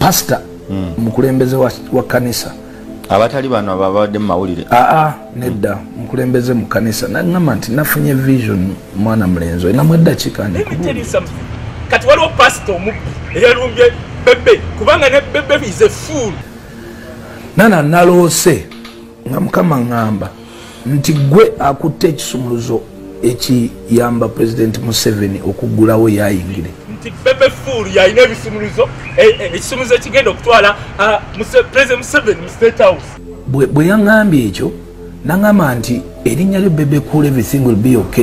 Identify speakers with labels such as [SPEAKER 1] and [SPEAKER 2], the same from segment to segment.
[SPEAKER 1] pasita hmm. mukulembeze wa kanisa abatali bano
[SPEAKER 2] ababadde mumawulire aa ah, ah, nedda hmm.
[SPEAKER 1] mukulembeze mu kanisa nagamba nti nafunye vision mwana mulenzi olinamu eddakiika kati waliwo
[SPEAKER 3] pasita omubbi eyalumbye bebe kubanga ne bebe is a fool nana naloose
[SPEAKER 1] nga mukama ŋŋamba nti gwe akutte ekisumuluzo ekiyamba pulezidenti museveni okuggulawo yayingire nti bebe
[SPEAKER 3] fuulu yalina ebisumuluzo e, e, ekisumuluzo ekigenda okutwala pulezidenti museveni mu state house bwe yaŋambye
[SPEAKER 1] ekyo naŋamba nti erinnya lyo bebe cool everything will be ok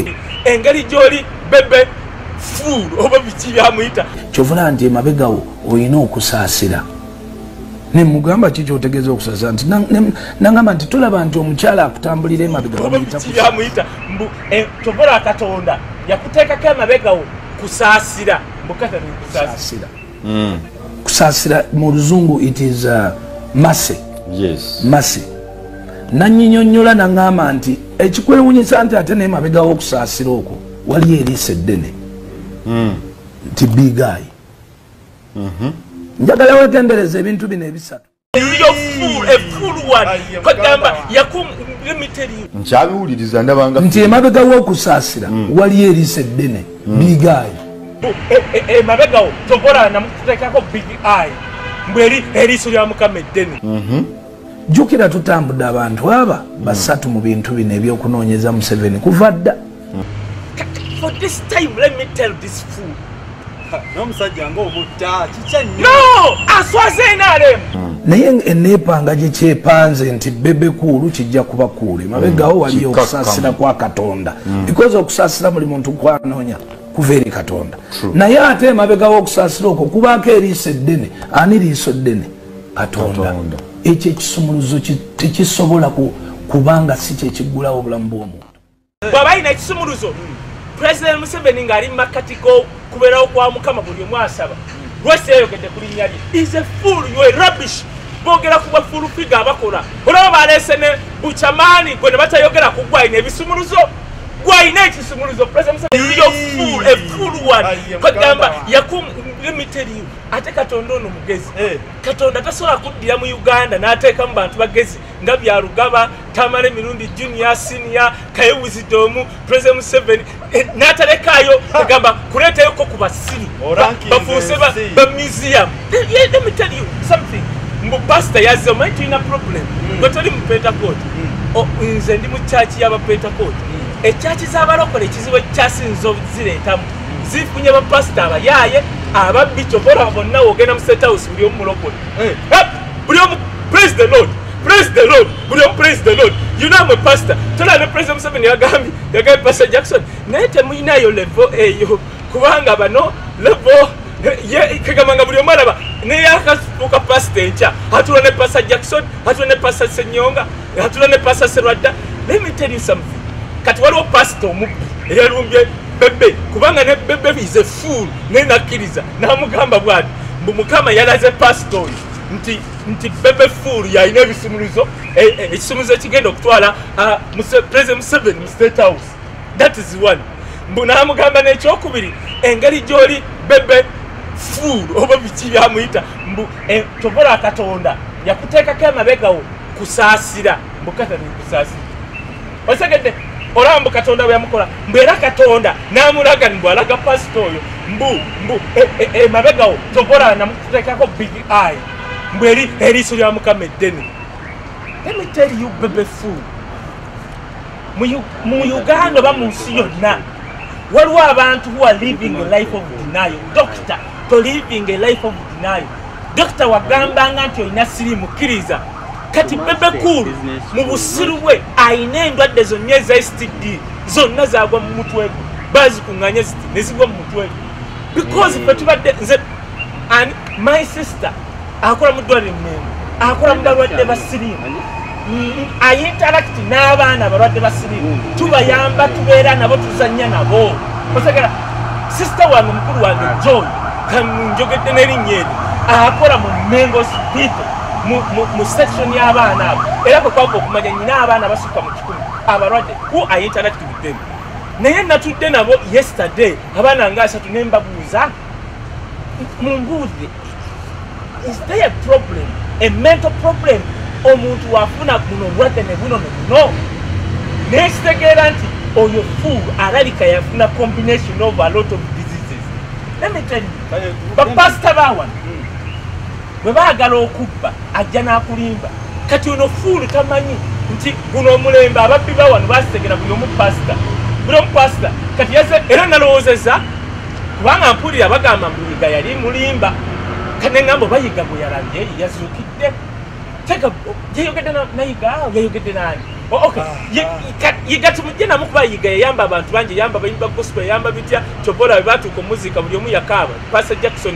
[SPEAKER 1] engeri gy'oli
[SPEAKER 3] bebe fuulu oba biki byamuyita kyovula nti emabegawo
[SPEAKER 1] olina okusaasira nemugamba ki kyotegeeza okusaza nti nangamba nti tulaba nti omukyala akutambulira emabegayamuyita mbu
[SPEAKER 3] eh, tovola katonda yakuteekako emabegawo kusaasira mbukatanikusaasira hmm.
[SPEAKER 1] kusaasira mu luzungu it is uh, mase
[SPEAKER 2] mase
[SPEAKER 1] nanyinyonyola nangamba nti ekikwewunyisa nti ate naye mabegawo okusaasira okwo waliyo eriisa eddene hmm. nti bigayi mhm. njagala wegendereza ebintu bino ebisatu
[SPEAKER 2] nkyabiwuliriza ndabanga nti emabega
[SPEAKER 1] wokusaasira mm. waliyo eriisa eddene mm. bigaayi
[SPEAKER 3] emabegawo e, e, tokola namutekako big eye mbweri eriiso lya mukama eddene mhm. jjukira
[SPEAKER 1] tutambudde abantu aba basatu mu bintu bino ebyokunoonyeza museveni kuva dda
[SPEAKER 3] For this time, let me tell this fool. No,
[SPEAKER 4] Msajja, ngo mutta, chicha nyo. No!
[SPEAKER 3] Aswaze inare! Naye
[SPEAKER 1] enepa nga jiche panze nti bebe kuru chija kuba kure. Mabega mm. wali yo kusasira kwa katonda. Mm. Because of kusasira muli muntu kwa nonya. Kuveri katonda. True. Na ya ate mabega wa kusasira uko. Kuba ke rise dene. Ani rise dene. Katonda. Katonda. Eche chisumuruzo chichisobola ku, kubanga siche chigula obula mbuomu. bwaba alina
[SPEAKER 3] ekisumuluzo president museveni ngaali mumakkati gokuberawo kwa mukama buli omu asaba lwesi yayogedde ku linnya lye is a full you a rubbish bogera ku bafulu figa abakola olaba baleese ne bucamaani gwe ne batayogera ku gwe alina ebisumuluzo gwe alina ekisumuluzo president museveni is a full a full one kwegamba yakum limiteriyo ate katonda ono mugezi eh. katonda tasobola kuddira mu uganda n'ateekamu bantu bagezi nga byalugaba tamala emirundi junior senior kayewuzidde omu president museven eh, natalekaayo agamba kuleetayoko ku basiru bafuuse ba museum mbu pasita yazze omanyi tulina problem hmm. gwe toli mu pentakoti hmm. nze ndi mu kyaki yabapentakoti hmm. ekyaki zabalokola ekizibu ekyasinza ozireetamu zifunye bapasita abayaaye ababbi kyovola bonna wogenda mu sethouse buli omumulokole Hey, hey, buli omu praise the lord praise the lord buli omu praise the lord you know I'm a pastor tola ne president Museveni yagambye yagambye pastor Jackson naye temuyinayo level eyo kubanga bano level ye kagamba nga buli omu alaba neyakasuka pastor enkya atula ne pastor Jackson atula ne pastor Senyonga atula ne pasa serwadda let me tell you something kati waliwo pasita omubbi eyalumbye bebe kubanga ne bebe is a fool naye nakkiriza namugamba bwati mbu mukama yalaze pasita oyo nti nti bebe fool yalina ebisumuluzo e, e, ekisumuluzo ekigenda okutwala president museveni mu state house that is one mbu namugamba nekyokubiri engeri gyoli bebe fool oba biki byamuyita mbu e, tokola katonda yakuteekako emabegawo kusaasira mbukatani kusaasira osegedde olaba mbu katonda bwe yamukola mbu era katonda n'amulaga mbu alaga pasita oyo mbu mbu emabegawo e, e, tokola namukuteekako big eye mbu eri eriiso lya mukama eddene let me tell you bebe fool mu uganda oba mu nsi yonna waliwo abantu who are living a life of denial doctor to living a life of denial dokita wagambanga nti olina sirimu kkiriza kati bebe cool mu busiru bwe alina endwadde zonna eza std zonna zagwa mu mutwe gwe bazikunganya ziti nezigwa mu mutwe gwe because fe tubadde nze and my sister akola mu ddwaliro mmengo akola mu balwadde ba siriimu ayintarakiti n'abaana abalwadde ba siriimu tubayamba tubeera nabo tuzannya nabo osegera sisita wange omukulu wange john kanjogedde n'erinnya eri akola mu mmengo sipito mu section y'abaana abo era kwe kwava okumanya nyina abaana basukka mu kikumi abalwadde ku ayintarakiti buddemu naye natudde nabo yesterday abaana nga asatu ne mbabuuza mumbuuze is there a problem a mental problem omuntu wafuna guno obulwadde ne buno nebuno naye kitegeera nti oyo full alabika yafuna combination of a lot of diseases let me tell you bapasita bawano hmm. bwe baagala okubba ajja n'akulimba kati ono fuulu tamanyi nti guno omulembe ababbi bawano basitegera buli omu pasita buli omu pasita kati yaze era nalowoozeza kubanga mpulira bagamba mbu yiga yali mulimba kane ngambo bayiga gwe yalabye yazukidde tega yayogedde nayiga yayogedde nani oh, ah, ah. yiga tumujje namu kuba yiga yayamba abantu bangi yayamba bayimba gospel yayamba bitya kyobola bebatuuka omuziika buli omu yakaaba pasa jackson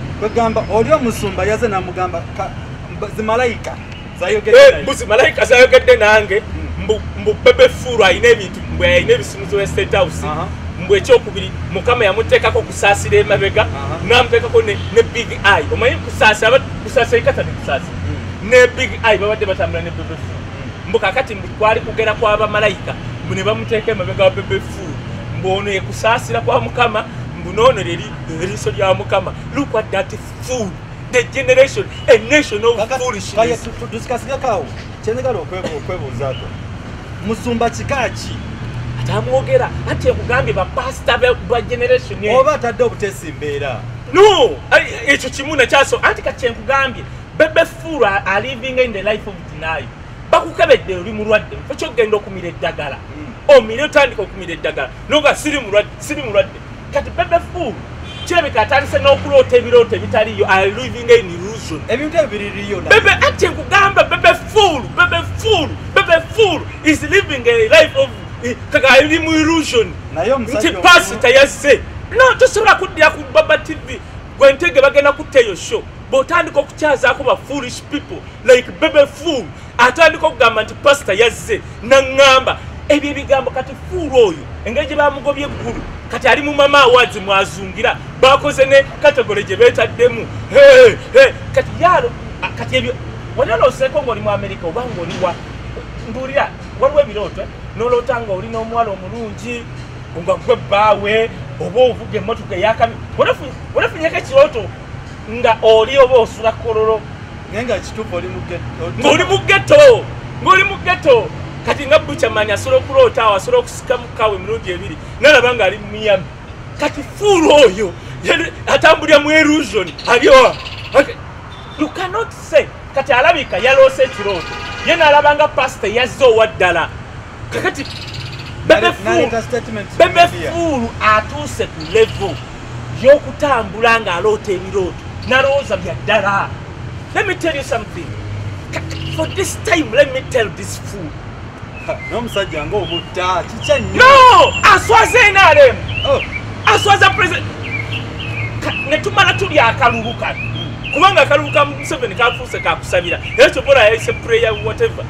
[SPEAKER 3] kwegamba
[SPEAKER 4] oli omusumba yaze namugamba zimalayika
[SPEAKER 3] buzi malayika zayogedde nange hmm. mbu bebe fuulu alina ebintu mbu alina ebisimuzo ya state house mbu ekyokubiri mukama yamuteekako okusaasira emabega namuteekako ne big i omanyi kusaasira kusaasira ikata ne kusaasira hmm. ne big i babadde batambula ne bebe fuulu hmm. mbu kakati mbu kwali kugera kwa bamalayika mbu ne bamuteeka emabega wa bebe fuulu mbu ono yekusaasira kwa mukama mbu noono leli eriiso lya mukama look at that fool the generation a nation of foolishnesstusikasigakawo
[SPEAKER 4] kyenegala okwebuuzaako musumba kika ki atamwogera
[SPEAKER 3] anti ekugambye bapasita ba generation oba atadde obutesi
[SPEAKER 4] mbeera no
[SPEAKER 3] ekyo kimu nakyaso anti kati enkugambye bebe fuulu aliving in the life of dinayo bakukebedde oli mulwadde ekyo okugenda okumira eddagala hmm. omire otandika okumira eddagala noga siri mulwadde kati bebe fool kirabika atandise n'okuloota ebirooto ebitaliyo aliving in illusion ebintu ebyo biririyo
[SPEAKER 4] bebe ati nkugamba
[SPEAKER 3] bebe fool bebe fool bebe fool is living a life of eh, kaka ali mu illusion nti pasi tayazze no tosobola kuddira ku baba tv gwentege bagenda kutta eyo show bwotandika okukyazaako ba foolish people like bebe fool atandika okugamba nti pasita yazze naŋŋamba ebyo ebigambo kati fuulu oyo engeri gye bamugobye eggulu kati ali mu mama awazi mwazungira bakoze ne kategole gye beetaddemu kati yaalo kati ebyo waliwo noseeko ngaoli mu amerika oba ngaoli wa mbuulira waliwo ebirooto eh? noloota nga oli n'omuwala omulungi nga gwe bbaawe oba ovuga emmotoka eyakami walafunyeko ekirooto nga oli oba osula kololo naye nga kituufu
[SPEAKER 4] oli mugettooli mugetto
[SPEAKER 3] ngoli mugetto kati nga buchamanya asobola okuloota awo asobola okusika mukawe emirundi ebiri nalaba nga ali mumiyami kati fuulu oyo atambulira mu elusion alioa you cannot say kati alabika yaloose ekirooto ye nalaba nga pasita yazze owa ddala kakati bebe fuulu atuuse ku levo y'okutambula ng'aloota ebirooto nalowooza bya ddala let me tell you something for this time let me tell this fool n'omusajja
[SPEAKER 4] ngaobutta kikya nyo no aswaza
[SPEAKER 3] nrm oh. aswaza president netumala tuli akalulu kano kubanga akalulu ka museveni kafuuse kakusabira era kyobola yayise prayer whatever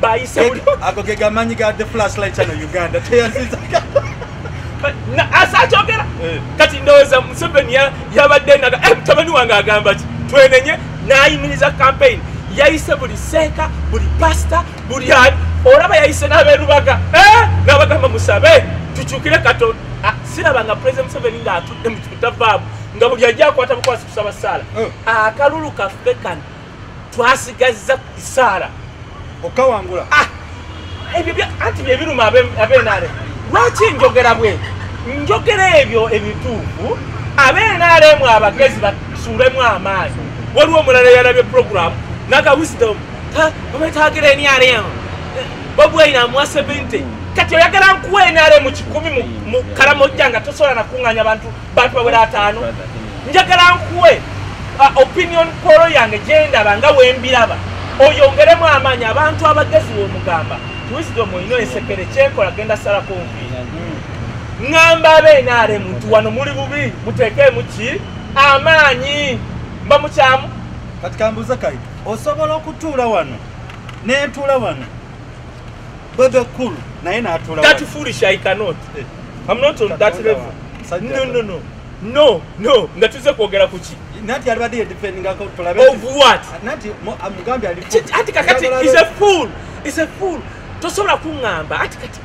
[SPEAKER 3] bayise buli ago ge gamanyi
[SPEAKER 4] ga the flashlight channel uganda teyaziza
[SPEAKER 3] asakyogera eh. kati ndowooza museveni yabadde naga eh, mutabani wange agamba ki twenenye nayimiriza campaign yayise buli seeka buli pasita buli olaba yayise n'aberubaga eh, nabagamba musabe tukyukire katonda ah, siraba nga president museveni ngaatudde mu kitavaamu nga buli ajja akwata bukwasi kusaba saala akalulu kaffe kano twasigazza isaala okawangula
[SPEAKER 4] ah,
[SPEAKER 3] ebyo anti byebiruma abenaale lwaki njogera bwe njogera ebyo ebituufu abenaalemu abagezi basuulemu amaanyi waliwo omulala yalabye puroguramu naga wisdom obetagira enrm bobwaina amuwa 70 kati oyagala nkuwa enrm kikumi mu kalamojja nga tosobola nakuŋŋanya bantu bantu bawera ataano njagala nkuwe uh, opinion polo yange gyendaba nga wembiraba oyongeremu amaanyi abantu abagezi womugamba wisdom olina esekere kyenkola genda salako nvi ŋamba abenaare muntu wano muli bubi mutekeemu ki amaanyi mba mukyamu kati kambuuza
[SPEAKER 4] kai osobola okutuula wano nentuula wano bebe kulu naye natuula kati foolish i cannot
[SPEAKER 3] eh. i'm not on that level no no no no no nga tuze kwogera ku ki nati alibadde yedifendingako
[SPEAKER 4] tulabe of what nati
[SPEAKER 3] mugambi
[SPEAKER 4] ali ati kakati is
[SPEAKER 3] a fool is a fool tosobola kuŋŋamba ati kati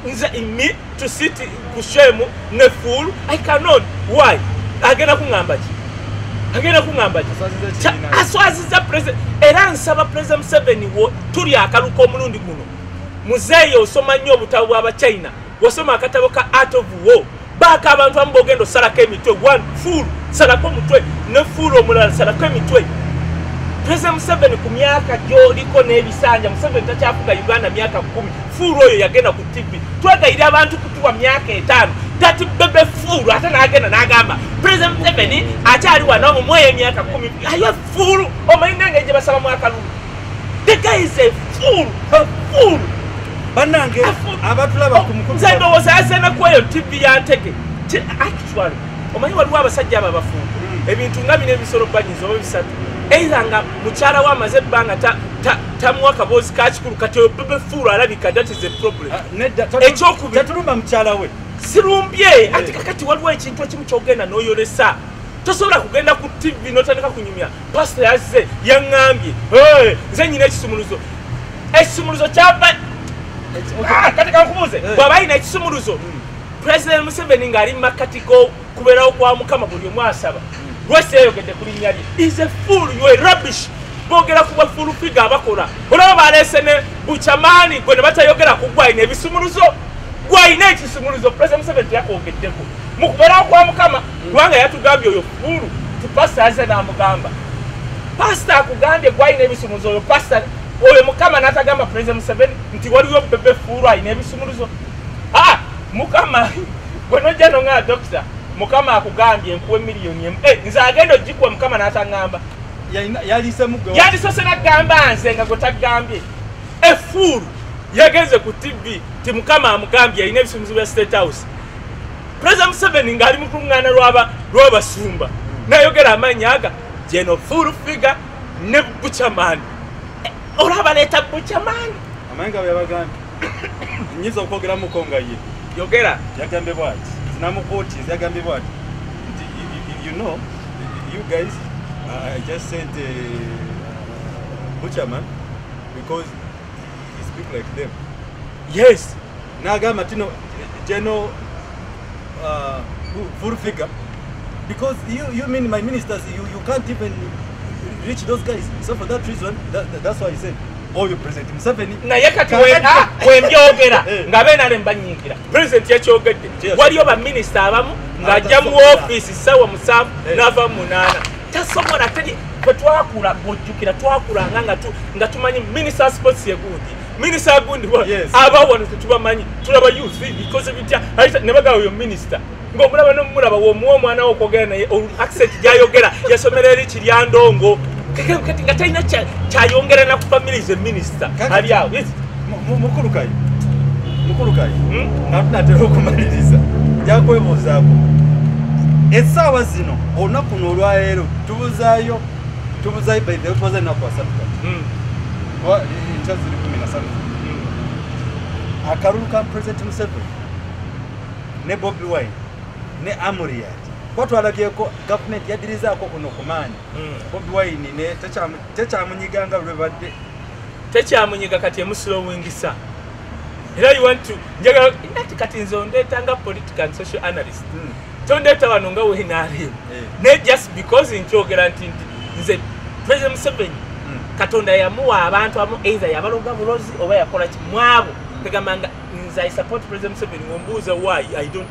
[SPEAKER 3] nze imi to sit ku shemu ne fool i cannot why agenda kuŋŋamba ki agenda kuŋamba aswaziza president era nsaba president museveni wo tuli akaluka omulundi guno muzeeyi osoma nnyo obutabo bwabachina wasoma akatabo ka art of war baaka abantu amu bogenda osalako emitwe one full salako omutwe ne full omulala salako emitwe president museveni ku myaka gyoliko n'ebisanja museveni takyafuga uganda myaka kumi fuulu oyo yagenda ku tv twegayira abantu kutuwa myaka etaano tati bebe fuulu ate n'agenda n'agamba president museveni akyali wanawo mumweyo emyaka kumi ayo fuulu omanyi nange gye basaba mwakalulu The guy is a fool, a fool. Banange
[SPEAKER 4] abatulaba oh, ku mukulu. Nze ndowooza yazena kweyo
[SPEAKER 3] TV ya ntege. Actually, omanyi waliwo abasajja abo abafuuko. Hmm. Ebintu nga bino ebisolo banyiza oba bisatu. Either nga mukyala we amaze ebbanga tamuwa akaboozi ka kikulu kati oyo bebe fuulu alabika that is a problem. Ah, nedda ekyokubiri. Tatulumba mukyala
[SPEAKER 4] we. Sirumbye eh.
[SPEAKER 3] ati kakati waliwo ekintu ekimu kyogenda n'oyolesa. Tosobola kugenda ku TV n'otandika kunyumya. pasita yazze yaŋŋambye nze nyina ekisumuluzo ekisumuluzo kyava ah, kati kankubuuze eh. bw'aba alina ekisumuluzo hmm. pulezidenti museveni ng'ali mu makkati g'okubeerawo kwa mukama buli omu asaba hmm. lwesi yayogedde ku linnya lye is a full you a rubbish bogera ku bafulu figa abakola olaba baleese ne bucamaani gwe ne batayogera ku gwalina ebisumuluzo gwalina ekisumuluzo pulezidenti museveni teyakwogeddeko mu kubeerawo kwa mukama kubanga yatugambye oyo fulu tupasita aze namugamba pasita akugambye gwalina ebisumuzo oyo pasita oyo mukama natagamba puleze museveni nti waliwo bebe fulu alina ebisumuluzo a mukama gwe nojja nonga dokita mukama akugambye enkuwa emiliyoni emu eh, nze agenda ogikuwa mukama natagamba yalisose nagamba nze nga gwe tagambye efuulu yagenze ku tv ti mukama amugambye alina ebisumuzo bya state house pulezida museveni ng'ali mu kuluŋŋaana lw'abasumba nayogera amaanyi aga geno full figure ne bucamaani eh, olaba leeta bucamaani amanyi nga byabagambi
[SPEAKER 4] nyinza okwogeramuko nga ye yogera
[SPEAKER 3] yagambe bwati
[SPEAKER 4] zinamukuuti yagambe bwati nti you know you guys uh, i just sent a uh, buchaman because he speak like them yes
[SPEAKER 3] n'agamba
[SPEAKER 4] tino geno uh, full figure because you, you mean my ministers you, you can't even reach those guys so for that reason that, that, that's why he said oyo president museveni naye kati ah,
[SPEAKER 3] wembyogera eh. nga benale mbanyiikira president yakyogedde waliyo baminisita abamu ng'ajja mu ofiisi ssaawa musanvu eh. n'ava mu munaana tasobola teri bwe twakula bwojjukira twakulanga nga tumanyi minisita sports yeguudi Minister Agundi wa yes. aba wano tetubamanyi tulaba youth because bitya aita nebaga oyo minister ngo mulaba no mulaba wo muo mwana wo kogera naye accent jayogera yasomera eri kiryandongo keke kati ngataina cha chayongera na family ze minister ali awo yes mukuru
[SPEAKER 4] kai mukuru kai hmm? ngafuna tero kumaliriza jakwebuzako esawa zino onakuno olwa lero tubuzayo tubuzayo by the way tubuzayo na kwa sabta hmm. Wa- eh, enkya ziri kumi na satu akalulu ka president museveni ne bobi wine ne amuriat kuba twalabyeko gavumenti yadirizaako kuno kumaanyi bobi wine ne tekyamu- tekyamunyiganga lwebadde tekyamunyiga
[SPEAKER 3] kati emusilowingisa era you want to njagala ndati kati nze ondeeta nga political and social analyst mm. tondeeta wano nga wenarm yeah. ne just because nkyogera nti nti nze president museveni mm. katonda yamuwa abantu amu either yabaloga bulozi oba yakola ki mwabo mm. tegamba nga nze i support president museveni wombuuza why i don't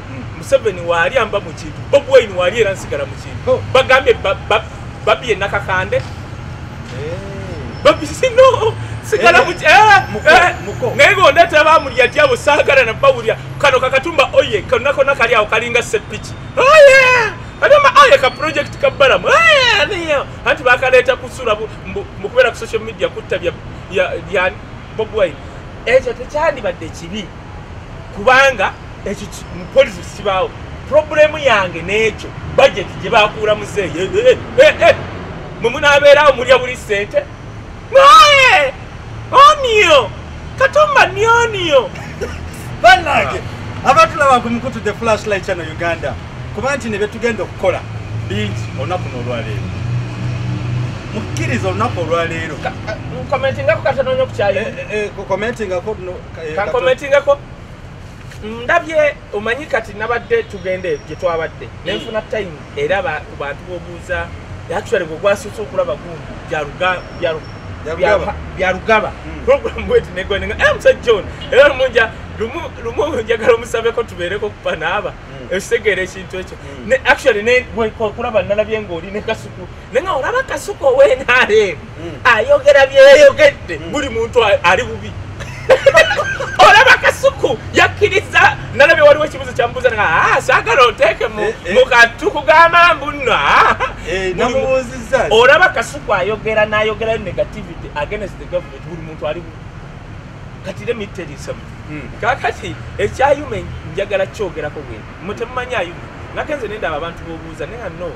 [SPEAKER 3] museveni waali amba mu kintu bob wayini waali era nsigala mu kintu oh. bagambye babi enakakande eh. babisino sigala eh, eh, naye gondeta bamulya tyabo sagala nabawulya kano kakatumba oye konakona kali awo kalinga sepiki oye adama aye ka project kabalamu anti bakaleeta kusula mukubeera ku social media kutta bya bob wayini ekyo tekyandibadde kibi kubanga ekyo mupolisi kibaawo problemu yange n'ekyo bajeti gye bakuula muzeeyi eh, eh, eh, mwe munaabeerawo mulya buli ssente naye oniyo katumba ni oniyo banange
[SPEAKER 4] abatulaba ku mukutu the flashlight chano uganda kuba nti ne byetugenda okukola bingi olunaku n'olwaleero mukkiriza olunaku olwaleero nkomentingako
[SPEAKER 3] katanonya okukyayo komentingako eh, kankomentingako ndabye omanyi kati nabadde tugenda gye twabadde hmm. nenfuna time era ku bantu bobuuza actually gwe gwasuuse okulaba gundi byarugaba hmm. program bweti negwenenga eh, musa john era lumunja lumu njagala omusabeko tubeereko kupa naaba ekitegeera hmm. ekintu ekyo actually kulaba nalabye ngaoli nekasuku naye nga olaba kasuka owenrm hmm. ayogera byeyogedde hmm. buli muntu ali bubi olaba kasuku yakkiriza nalabye waliwo ekibuzo kyamubuuza nga ah, sagala oteeke eh, eh. mukatu kugamba mbuno ah. eh,
[SPEAKER 4] olaba kasuku
[SPEAKER 3] ayogera nayogerayo negativity against the government buli muntu ali bubi kati le mitterisam hmm. kakati ekyayume njagala kyogerako bwe mutemumanyi ayume nakenze nendaba abantu bobuuza naye nga no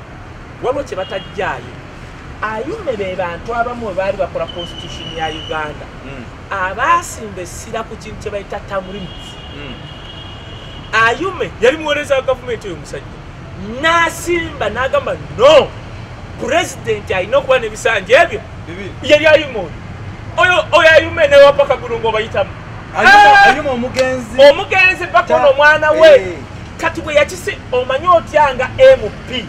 [SPEAKER 3] waliwo kye batajjaayo ayume be bantu abamu bwe baali bakola constitution ya uganda hmm. abaasimba essira ku kintu kye bayita tamrims hmm. ayume yali muweereza wa gavumenti oyo musajja n'asimba n'agamba no pulezidenti alina okuba n'ebisanja ebyo yali ayume oyo oyo ayume newapakagulu ngaobayitamu ah!
[SPEAKER 4] omugenzi omugenzi
[SPEAKER 3] bakona omwana we eh. kati bwe yakisi omanyi otya nga mp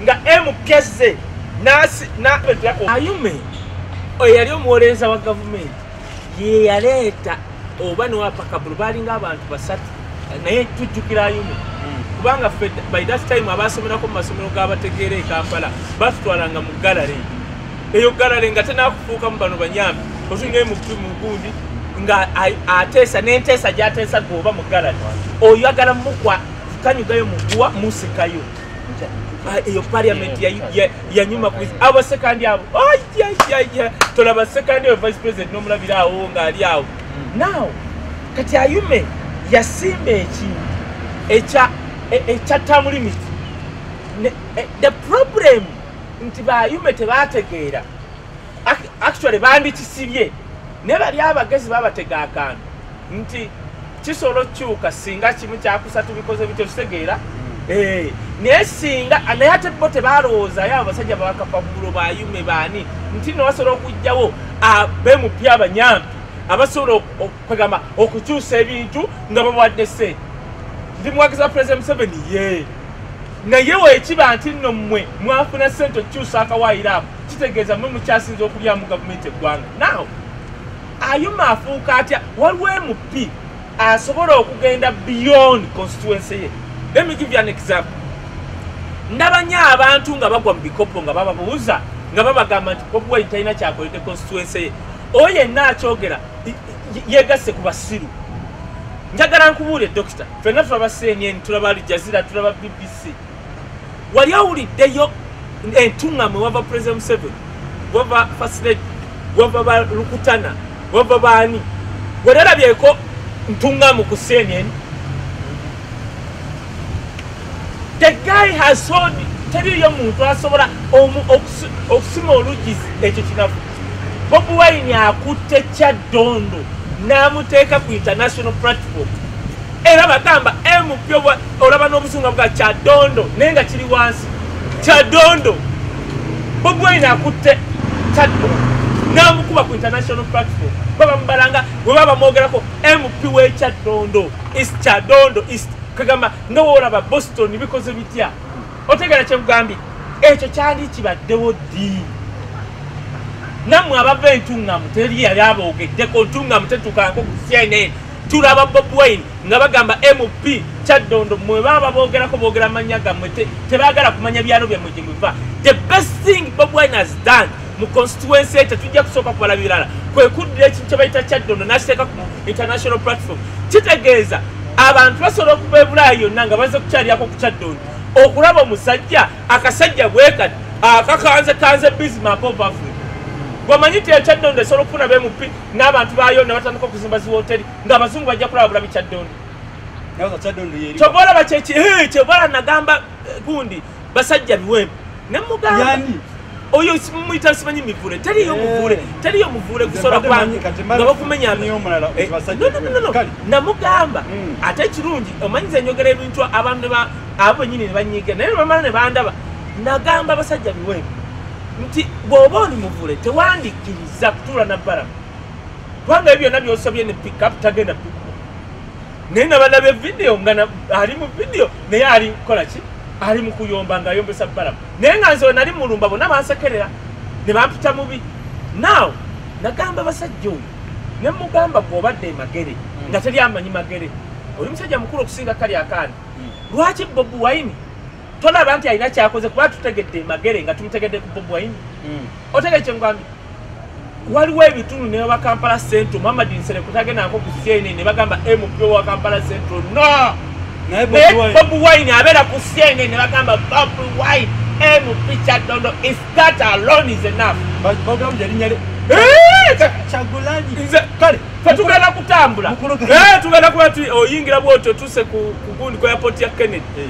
[SPEAKER 3] nga mkeze ayume oyo yali omuwolereza wa gavumenti yeyaleeta oba newapakabulu balinga abantu basatu naye tujjukira ayume kubanga fe by that time abaasomerako mu masomero g'abategeera e kampala batutwalanga mu gallery eyo galale nga tenakufuukamu bano banyambi otungaye mukutu mugundi nga ateesa nenteesa gyateesa gwe oba mu galale oyagala mukwa kanyugayo muguwa musikayo eyo parliament yanyuma ku abo sekandi abo tolaba sekandi oyo vice president nomulabira awo ngaali awo now kati ayume yasimba ekintu ekya e, e, term limit e, the problem nti bayume tebategeera actually bandikisibye naye bali abagezi babatega akantu nti kisobola okukyuka singa kimu kyakusa tubikoze bityo kitegeera hmm. eh, naye singa naye ate bo tebalowoozayo abasajja babakapabulo bayume baani nti nobasobola okugjawo bemupya abanyampi abasobola okwegamba okukyusa ebintu nga bawadde sente ndi muwagizi wa president museveni yee naye wekiba nti nno mmwe mwafuna ssente okukyusa akawaayiro ako kitegeeza mmwe mukyasinza okulyamu gavumenti eggwanga naw ayuma afuuka atya waliwo mp asobola okugenda beyond constituency ye let me give you an example ndabanyo abantu nga bagwa mu bikopo nga bababuuza nga babagamba nti bobuwa italina kyakolede constituency ye oyo yenna akyogera yegasse ku basiru njagala nkubuule dokita fena tulaba cnn tulaba aljazira tulaba bbc wali awuliddeyo entuŋamwe wava president museven wava fasred wava balukutana wava baani weralabyeko ntuŋamu ku cnn the guy has sold teriyo muntu asobola okusima oluggi ekyo kinafu bobi wine akutte kyaddondo n'amuteeka ku international platform era bagamba mp olaba n'obuzunga bwa kyaddondo naye nga kiri wansi kyaddondo bobi wine akutte kyaddondo n'amukuba ku international platform baba mubalanga bwe baba bamwogerako mp w'ekyaddondo is kyaddondo is kagamba nga woolaba boston bikoze bitya otegera kyekugambye ekyo kyali kibaddewo ddi nammwe abava entuŋŋamu teri yali aboogeddeko ntuŋŋamu tetukaako ku cnn tulaba bob wine nga bagamba mp kyaddondo mwe baba boogerako boogera mannya gammwe tebaagala kumanya byalo byammwe gye muva the best thing bob wine has done mu constituency ekyo tujja kusooka kubala birala kwe kuddira ekintu kye bayita kyaddondo n'akiteeka ku international platform kitegeeza abantu basobola okuva ebulaayi yonna nga baze kukyalyako ku kyaddondo okulaba omusajja akasajja bwekati akakanze kanze bismark of africa wamanyi ti ekyaddondo esobola okufuna bemup n'abantu bayo ne batandika okuzimba ziwoteri ng'abazungu bajja kulaba bulabi kyaddondo kyobola bakyekyebola nagamba eh, gundi basajja biwempe nemugamba oyo muyita simanyi mivule taliyo eh. muvule taliyo muvule kusora kwange nga bakumenya eh, namugamba hmm. ate ekirungi omanyiza enyogera ebintu abantu abo benyini nebanyiga naye nebamala nebandaba nagamba abasajja biwe nti bwoba oli muvule tewandikkiriza kutuula nabbalamu kubanga ebyo byonna byosabye ne pickup tagenda pikuba naye nabalabye vidiyo nga ali mu vidiyo naye ali kukola ki ali mu kuyomba nga ayombesa balamu naye nga nze wenali mulumba bona bansekerera ne bampita mubi naaw nagamba basajja oyo ne mugamba gwobadde emagere hmm. nga teri amanyi magere oli musajja mukulu okusinga kali akaani hmm. lwaki bobi wine tolaba nti alina kyakoze kuba tutegedde magere nga tumutegedde ku bobwain hmm. otegede kyengwambi waliwo ebitundu ne wa kampala central muhammad nsere kutagendako ku cna ne bagamba mp wa kampala central no naye bob wine abeera ku cna ne bagamba bob wine mp kyadondo is that alone is enough
[SPEAKER 4] kale fetugenda
[SPEAKER 3] kutambula tugenda kuba oyingira bwotyo tuse ku gundi ku airport ya kennedy eh.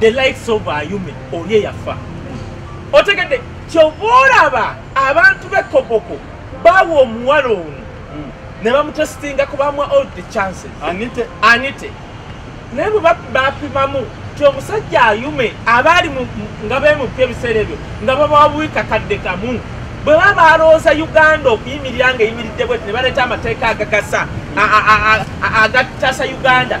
[SPEAKER 3] the likes of ayume oli eyafa otegedde kyova olaba abantu bekoboko bawa omuwala ono hmm. ne bamutesitinga kubamuwa all the chances anite, anite. naye bwebapimamu ti omusajja ayume abaali nga bemupya ebiseera ebyo nga babawa buikakadde kamu bwe baba balowooza uganda okuyimirira nga eyimiridde bweti ne baleeta amateeka agagasa agatasa uganda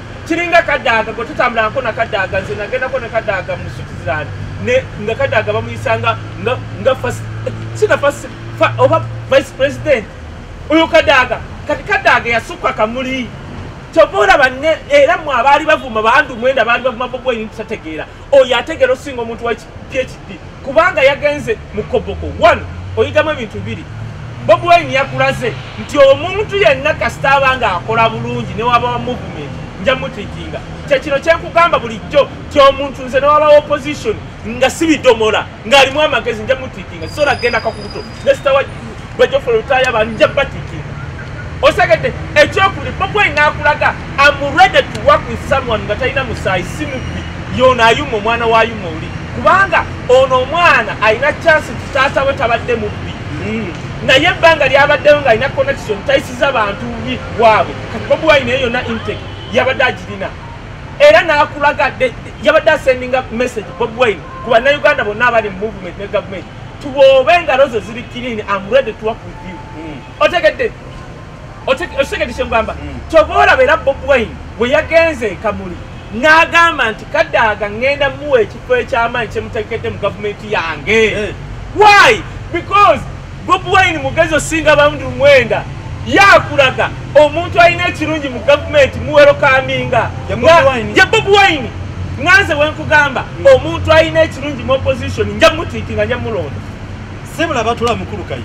[SPEAKER 3] kiringa kadaaga gwe tutambulangako nakadaaga nze nagendako ne kadaaga mu switzerland nga kadaaga bamuyisanga nga sina oba vice president oyo kadaaga kati kadaaga yasukka kamuli kyova olaba era mwe abaali bavuma bandu mwenda baali bavuma bobwenyi tutategeera oyo ategeera osinga omuntu phd kubanga yagenze mu koboko one oyitamu ebintu biri bobi wine yakulaze nti omuntu yenna kasita aba nga akola bulungi newaba wa movement nja mutikinga kyekino kyenkugamba bulijjo ti omuntu nze newaba wa opposition nga sibidomola ng'alimu amagezi nja mutikinga sisoola kugenda kakubuto nesita wa bajofo lutaaya banja batiki osegedde ekyokuli bobwai nakulaga am ready to work with someone nga talina musaayi si mubbi yono ayuma omwana wa yuma oli kubanga ono omwana alina chansi nti taata we tabadde mubbi hmm. naye ebbanga lyabaddeyo nga alina connection tayisiza bantu bi waabwe kati bobwai naye yona intake yabadde agirina era nakulaga yabadde asendinga message bobwai ku bannayuganda bonna abali mu movement ne gavumenti tubobe engalo zo ziri clean am ready to work with you mm. otegedde otegedde kyengamba mm. toboolaba era bob wine bwe yagenze ekamuli n'agamba nti kadaaga ŋŋenda muwa ekifo eky'amaanyi kyemutekedde mu gavumenti yange eh. why because bob wine mugezi osinga bandu mwenda yakulaga omuntu alina ekirungi mu gavumenti muwerokaminga ye bob wine nganze wenkugamba hmm. omuntu alina ekirungi mu opposition nja mutiiti nga nja mulonda sebula batula
[SPEAKER 4] mukulu kayi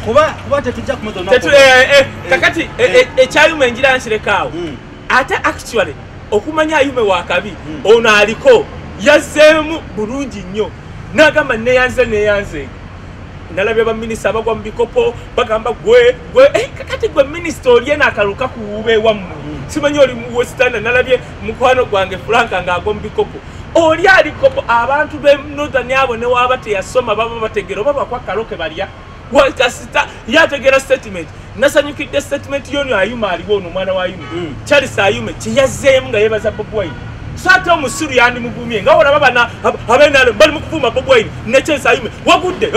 [SPEAKER 4] kuba kuba tetujja kumutona tetu eh, eh, eh, eh kakati
[SPEAKER 3] eh, eh, ekyayuma eh, enjira nsirekaawo mm. ate actually okumanya ayume wakabi mm. ono aliko yazzeemu bulungi nnyo nagamba neyanze neyanze nalabye baminisita abagwa mu bikopo bagamba gwe gwe eh, kati gwe minisita olye nakaluka kuwuba ewammwe simanyi oli muwesitanda nalabye mukwano gwange fulanka ngaagwa mu bikopo oli alikopo abantu be northern abo newaba teyasoma baba bategera oba bakwakaloke balya wakasita ye ategeera statement nasanyukidde statement yoni ayuma aliwo ono omwana wa yume mm. charles ayume kyeyazzeemu nga yebaza bob wine so ate omusiru yandimugumye nga olaba bana abenale bali mukuvuma bob wine ne charles ayume wagudde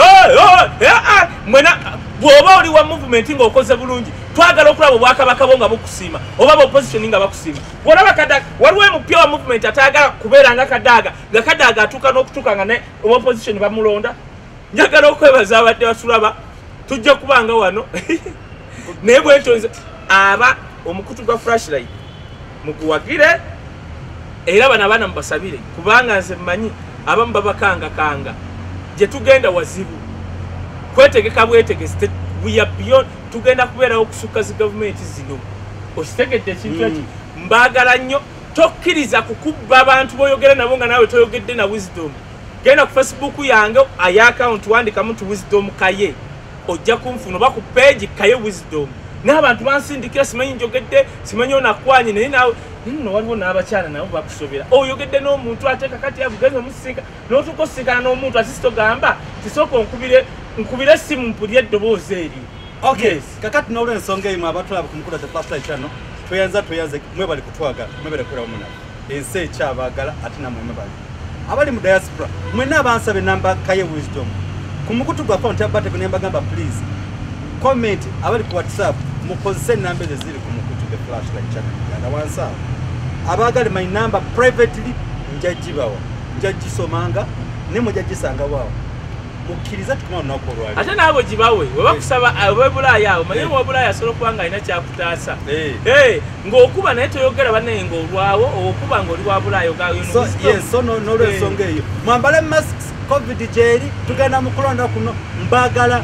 [SPEAKER 3] mwena bwoba oli wa movement nga okoze bulungi twagala okulaba obwakabaka bo nga bukusiima oba baopposition nga bakusiima olaba kadaga waliwo emupya wa movement atayagala kubeera nga kadaaga nga kadaaga atuuka n'okutuuka nga ne obaopposition bamulonda njagala okwebaza abadde batulaba tujja kubanga wano naye bwetonze aba omukutu gwa flashlight muguwagire era bano abaana mubasabire kubanga nze mmanyi abamu babakangakanga gye tugenda wazibu kwetegeka bwetegesi tugenda kubeerawo okusukka zi gavumenti zino okitegedde ekintu ekyo hmm. mbaagala nnyo tokkiriza kukubba abantu boyogera nabo nga naawe toyogedde na wisdom genda ku facebook yange aye akawunti wandikamu nti wisdom kaye ojja kunfuna oba ku peegi kaye wisdom naye abantu bansindikira simanyi njogedde simanyi onakwanye naye nawe nno waliwo n'abakyala nabo bakusobera oyogedde n'omuntu ate kakati avugenza omusinka notuuka osinkana n'omuntu ati sitogamba kisooka onkubire nkubire simu mpulire eddoboozi eri okay kakati
[SPEAKER 4] n'olwensonga emu abatulaba ku mukulu the plastic channel tweyanza tweyanze mwebali kutwagala mwebale kulawo munaffe ensi ekyabagala ate namwe mubali abali mu diaspora mwena abansaba enamba kaye wisdom ku mukutu gwa akaunti ya bateko ne mbagamba please comment abali ku whatsapp mukozese enamba ezo ziri ku mukutu the flash like channel uganda wansi awo abaagale my number privately njagibawa njagisomanga ne mujagisangawo awo mukkiriza tukuma olunaku olwali ate naabo gibawe
[SPEAKER 3] webakusaba eh. webulaaya awo manye eh. wabulaaya asobola okuba nga alina kyakutaasa eh. ng'okuba naye toyogera banaye ng'olwawo okuba ng'oli wa bulaayo gayoso
[SPEAKER 4] n'olwensonga eyo mwambale masks covid gyeri tugenda mu kulonda kuno mbagala